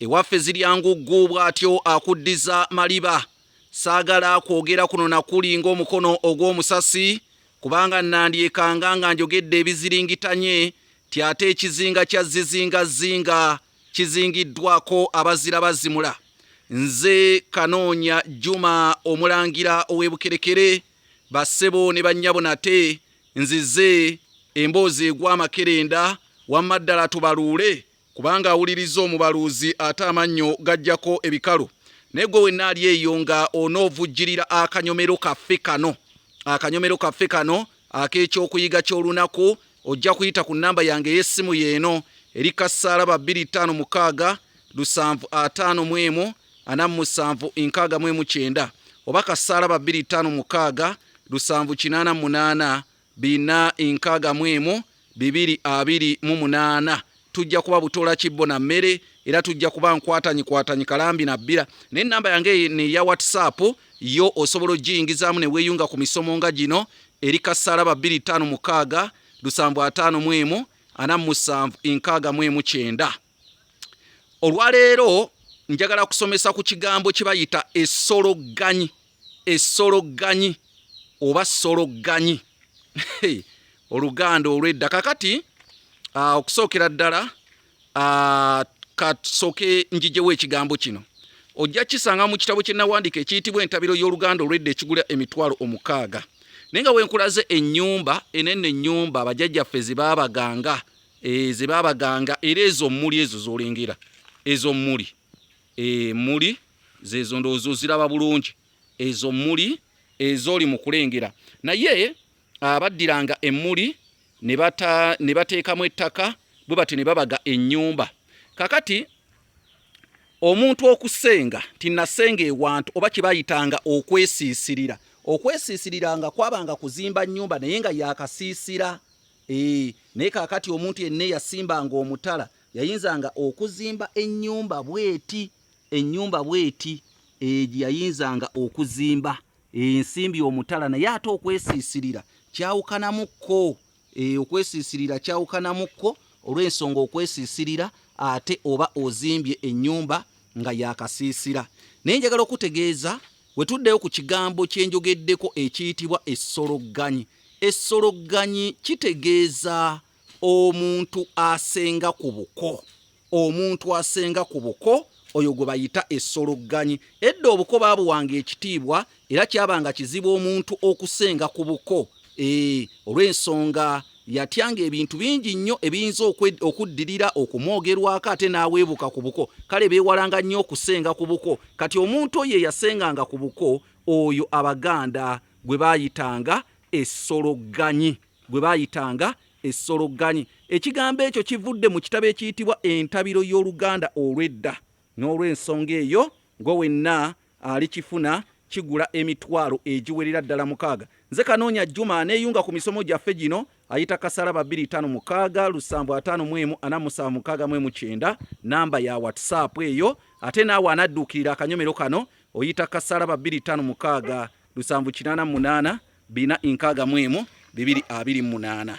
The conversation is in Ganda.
Ewaffe zirya nguggu bw'atyo akuddiza maliba. Saagala kwogera kuno na kuli ng'omukono ogw'omusasi kubanga nnandyekanga nga njogedde ebiziringitanye nti ate ekizinga kya zzizingazzinga kizingiddwako abazira bazimula. Nze Kanoonya Juma Omulangira ow'e Bukerekere, bassebo ne bannyabo nate nzize emboozi egwa amakerenda wamma ddala tubaluule kubanga awuliriza omubaluuzi ate amannyo gajjako ebikalu naye gwe wenna ali eyo nga onoovujjirira akanyomero kaffe kano akanyomero kaffe kano ak'ekyokuyiga ky'olunaku ojja kuyita ku nnamba yange ey'essimu yeeno eri kasaala ba 25 mukaaga lusanvu ataano mu emu ana mu musanvu nkaaga mu emu kyenda oba kasaala ba 25 mukaaga lusanvu kinaana munaana Bina enkaaga mu emu, bibiri abiri mu munaana. Tujja kuba butoola kibbo na mmere era tujja kuba nkwatanyikwatanyi kalambi na bbira. Naye ennamba yange eno eya WhatsApp yo osobola okugiyingizaamu ne weeyunga ku misomo nga gino, eri Kassaalaba bbiri ttaano mukaaga lusanvu ataano mu emu ana mu musanvu enkaaga mu emu kyenda. olwaleero njagala kusomesa ku kigambo kye bayita esologanyi esologanyi oba sologanyi oluganda olwedda kakati ah, okusookera ddala ah, kasooke njijewo ekigambo kino ojja kisanga mu kitabo kye nawandiika ekiyitibwa entabiro y'oluganda olwedda ekigula emitwalo omukaaga naye nga wenkulaze ennyumba enene ennyumba bajajjaffe zibaabaganga eh, ze babaganga era ezo mmuli ezo zolengera ezo mmuli eh, mmuli zezo ndowooza ziraba bulungi ezo mmuli ezoli mu kulengera naye ah, baddiranga emmuli ne bateekamu ettaka bwe batyo ne babaga ennyumba kakati omuntu okusenga tinasenga ewantu oba kibayitanga okwesiisirira okwesiisirira nga kwabanga kuzimba nnyumba naye nga yakasiisira Eeh, naye kakati omuntu yenna eyasimbanga omutala yayinzanga okuzimba ennyumba bweti ennyumba bweti eh, yayinzanga okuzimba ensimbi eh, omutala naye ate okwesiisirira kyawukanamukko eh, okwesiisirira kyawukanamukko olw'ensonga okwesiisirira ate oba ozimbye ennyumba nga yakasiisira naye njagala okutegeeza wetuddeyo ku kigambo kyenjogeddeko ekiyitibwa essologganyi Essologganyi kitegeeza omuntu asenga ku buko omuntu asenga ku buko oyo gwe bayita essologganyi edda obuko baabuwanga ekitiibwa era kyabanga kizibu omuntu okusenga ku buko ee olw'ensonga yatyanga ebintu bingi nnyo ebiyinza okuddirira okumwogerwako ate n'aweebuka ku buko kale beewalanga nnyo okusenga ku buko kati omuntu oyo eyasenganga ku buko oyo abaganda gwe baayitanga essologganyi gwe baayitanga essologganyi ekigambo ekyo kivudde mu kitabo ekiyitibwa entabiro y'oluganda olw'edda n'olw'ensonga eyo gwe wenna alikifuna kigula emitwalo egiwerera ddala mukaaga nze kanoonya juma aneeyunga ku misomo gyaffe gino ayita kasalaba 256 lusanvu 5 mwemu 47 mwemu 9 namba ya whatsapp eyo ate naawe anadduukirira akanyomero kano oyita kasalaba 256 lusanvu kinaana munaana bina nkaaga mu emu bibiri abiri munaana.